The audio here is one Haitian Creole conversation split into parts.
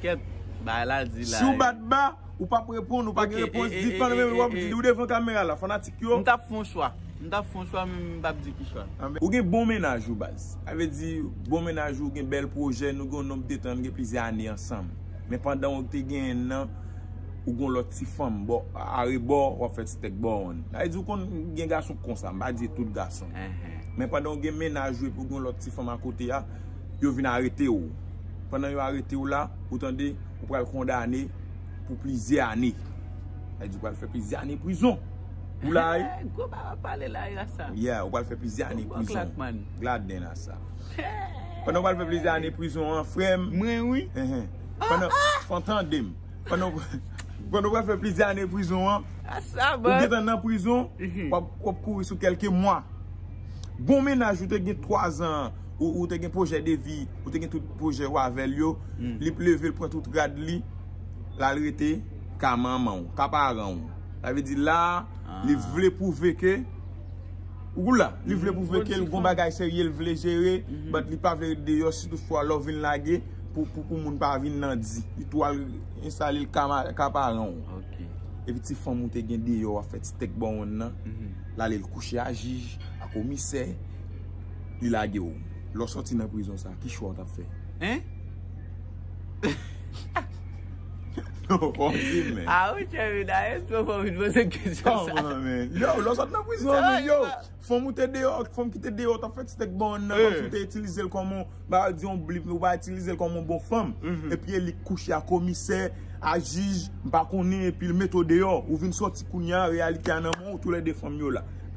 Kèt bagay la di la. Siw bat ba ou pap reponn ou pa gen repons di fann renmen wap di li ou devan kamera la fanatik yo. M tap fon chwa m tap fon chwa men m pap di ki chwa. Ou gen bon mennaj wi baz. Sa vle di bon mennaj ou gen bèl pwojè nou gen yon nonb de tan nou gen plizyè ane ansanm men pandan ou te genyen l nan ou gen yon lòt ti fanm bò arebò w ap fè ti tèk bò wonn. Sa vle di ou konn gen gason k konsa m pa di e tout gason men pandan ou gen mennaj ou epi ou gen yon lòt ti fanm akote a yo vin arete w. Pandan yo arete w la, ou tande, ou pral kondane pou plizyè ane. Sa vle di ou pral fè plizyè ane prizon. Ou la wi. Hey, gwo bagay wap pale la yo asa. Yeah, ou pral fè plizyè ane prizon. Bon klak man. Glad den asa. Pandan ou pral fè plizyè ane prizon an, frè m. Mwen wi. Pandan, fò w tande m. Pandan ou pral fè plizyè ane prizon an. Asa man. Ou gen tan nan prizon, wap kouri sou kelke mwa. Bon mennaj ou te gen 3 zan an. ou te gen pwojè de vi, ou te gen tout pwojè ou avèl yo, li p leve l pran tout rad li, la l rete ka manman ou, ka paran ou. Sa vle di la, li vle pwouve ke, ou gou la, li vle pwouve ke l gon bagay serye l vle jere, bat li pa vle rete deyò, si tout fwa lè w vin lage, pou pou moun pa vin nan di. Li tou al enstale l ka paran ou. E pi ti fanm ou te gen deyò a fè ti tèk bòwonn nan, la li l kouche a jij, a komisè. li lage w lè w sòti nan prizon sa ki chwa w tap fè hein non ou fòm ri m men ah ou tchèvi da e esprew fòm vin poze kesyon sa kòman men yow lè w sòti nan prizon men yow fanm ou te deyò ak fanm ki te deyò w tap fè ti stèk bann nan kòmsi w te itilize l kòm on bagay di on blip ou pa itilize l kòm on bon fanm epi e li k kouche a komisè a jij m pa konnen epi l mete w deyò ou vin sòti kounya reyalite a nan men w tou lè 2 fanm yo la.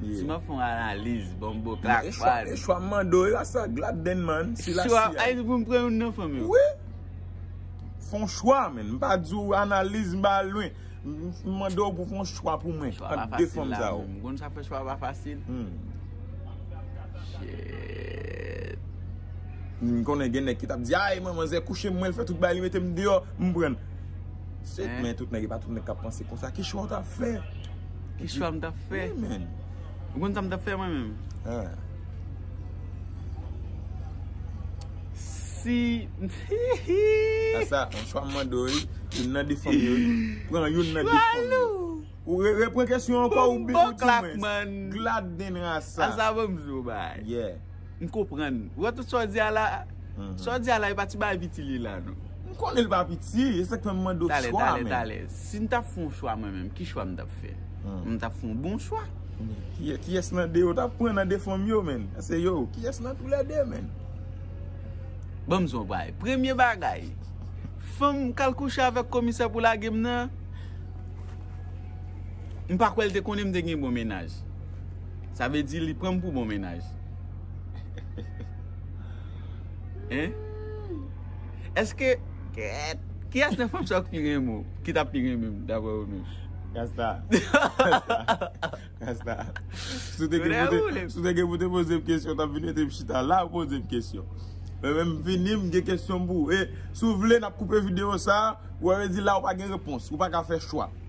Si map fon analiz bon bo klak pa. E chwa m mande w e la sa glad den man si la si a. Ay pou m pran youn nan fanm yo. Wi. Fon chwa men m pa di w analiz m pa al lwen. M mande w pou fon chwa pou mwen. Chwa pa fasil la men. M konn sa fè chwa pa fasil. Shit. M konnen gen nèg ki tap di ay manman zè kouche m mwen l fè tout bagay li mete m deyò m pran. Sèt men tout nèg e pa tout nèg kap panse konsa. Ki chwa ou tap fè? Ki chwa m tap fè? Wi men. Ou konn sa m tap fè mwen menm? An. Si. A sa, an chwa m mande ou e, youn nan de fanm yo. Pran youn nan de fanm yo. Chwalou! Ou repran kesyon an kon ou bibou di mwen. Bon bò klak man. Glad den rasa. A sa bon m di ou bay. Yeah. M konprann. Ou wè tout sa w di a la a? Sa w di a la e pa ti bagay piti li ye la non. M konnen li pa piti, e se sa k fè m mande w chwa a menm. Talè, talè, talè. Si m t ap fè yon chwa mwen menm, ki chwa m t ap fè? M t ap fè yon bon chwa. Men, kiyès nan de yo w t ap pran nan de fanm yo menn? Ase yo. Kiyès nan tou lè de menn? Ban m di w yon bagay. Premye bagay, fanm k al kouche avèk komisè pou lage m nan, m pa kwè l te konnen m te gen yon bon mennaj. Sa vle di li pranm pou bon mennaj. Hein? Eske kèèt Kiyès nan fanm sa ou k pi renmen ou? Ki tap pi renmen m daprè ou menm? Gasta Gasta Si w te gen pou te Si w te gen pou te poze m kesyon tap vin mete m chita la ou poze m kesyon Mwen menm m vini m gen kesyon m pou ou e si w vle nap koupe videyo sa ou wè yo di la ou pa gen repons ou pa ka fè chwa.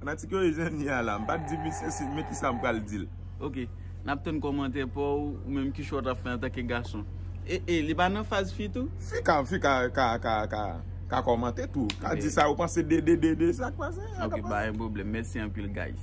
Fanatik yo e zen ni a la. M pat di misye si men kisa m pral dil. Ok nap tann komantè paw ou menm kichwa ou tap fè antanke gason e e li pa nan faz fi tou. Fi ka fi ka ka ka ka ka komante tou ka di sa yo panse de de de de sak pase. Ok pa gen pwoblèm mèsi anpil guys.